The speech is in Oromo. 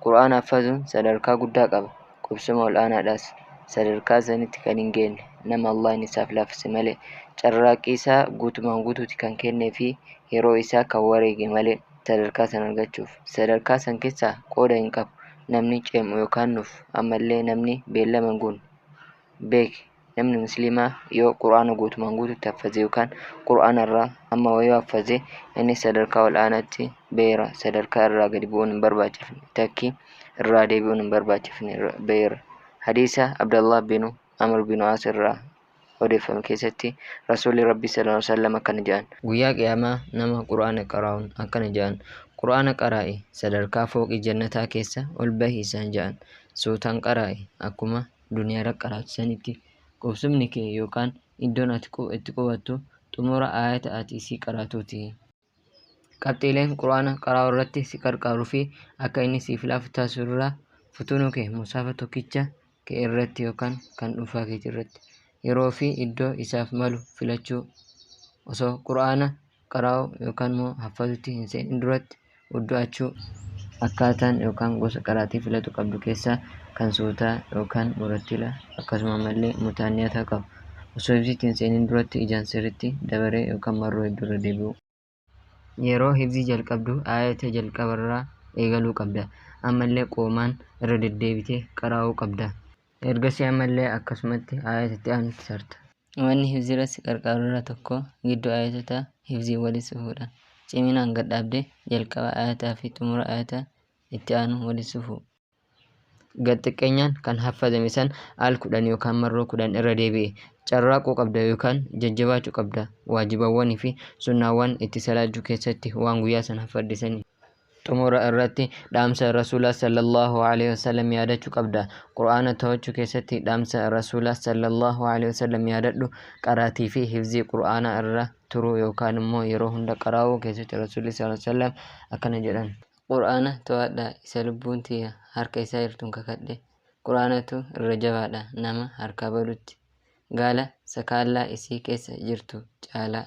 Qur'aana haffazuun sadarkaa guddaa qaba. Qubsuma ol aanaadhaas. Sadarkaa sanitti kan hin geenne nama Allahn isaaf laaffise malee carraaqqii isaa guutumaan guutuuti kan kennee fi yeroo isaa kan wareege malee sadarkaa san argachuuf. Sadarkaa san keessaa qooda hin qabu. Namni ceem'u yookaan nuuf ammallee namni beellama hin guunne. Beeki. namni muslimaa yoo qur'aana guutumaan guututti haffazee yookaan qur'aana irraa amma wayoo haffazee inni sadarkaa ol aanaatti beera sadarkaa irraa gadi bu'uun hin barbaachifne takkii irraa deebi'uun hin barbaachifne beera hadiisa abdallah binu amr binu as irraa odeeffame keessatti rasuulli rabbi sallallahu alaihi wasallam akkana jedhan guyyaa qiyaamaa nama qur'aana qaraa'uun akkana jedhan qur'aana qaraa'i sadarkaa fooqii jannataa keessa ol bahi isaan jedhan suutaan qaraa'i akkuma duniyaarra qaraatu sanitti qubsumni kee yookaan iddoon ati itti qubattu xumura aayata ati isii qaraatuuti. Qabxiileen Qur'aana qaraa'u irratti si qarqaaru fi akka inni siif laafu taasisu irraa futuunuu kee musaafa tokkicha kee irratti yookaan kan dhuunfaa keetii irratti yeroo fi iddoo isaaf malu filachuu osoo Qur'aana qaraa'u yookaan immoo haffazutti hin seenin duratti uddu'achuu akkaataan yookaan gosa qaraatii filatu qabdu keessaa kan suutaa yookaan murattila akkasuma ammallee mutaanniyataa qabu osoo hifzitti hin seenin duratti ijaan sirritti dabaree yookaan marroo hedduu irra deebi'uu yeroo hifzii jalqabdu aayata jalqabarraa eegaluu qabda ammallee qoomaan irra deddeebitee qaraa'uu qabda. Ergasii ammallee akkasumatti aayata itti aanutti sarta. Wanni hifziirratti si qarqaaru irraa tokko gidduu aayatotaa hifziin walitti sufuudha. Ciminaan gad dhaabdee jalqaba aayataa fi xumura aayata itti aanu walitti sufuu. Gad xiqqeenyaan kan haffazame san al kudhan yookaan marroo kudhan irra deebi'i. Carraaquu qabda yookaan jajjabaachuu qabda waajibawwanii fi sunnaawwan itti salaachuu keessatti waan guyyaa san haffadde saniin. Xumura irratti dhaamsa Rasuula sallallaahu aleyhi wasallam yaadachu qabda. Qur'aana to'achu keessatti dhaamsa Rasuula sallallaahu aleyhi wasallam yaadadhu, qaraatii fi hifzii Qur'aanaa irra turuu yookaan immoo yeroo hunda qaraa'uu keessatti Rasuulli sallallaahu aleyhi wasallam akkana jedhan. Qur'aana to'adhaa, isa lubbuun tiyya harka isaa jirtuun kakadhe, Qur'aanatu irra jabaadha nama harkaa badutti, gaala sakaallaa isii keessa jirtu caalaa.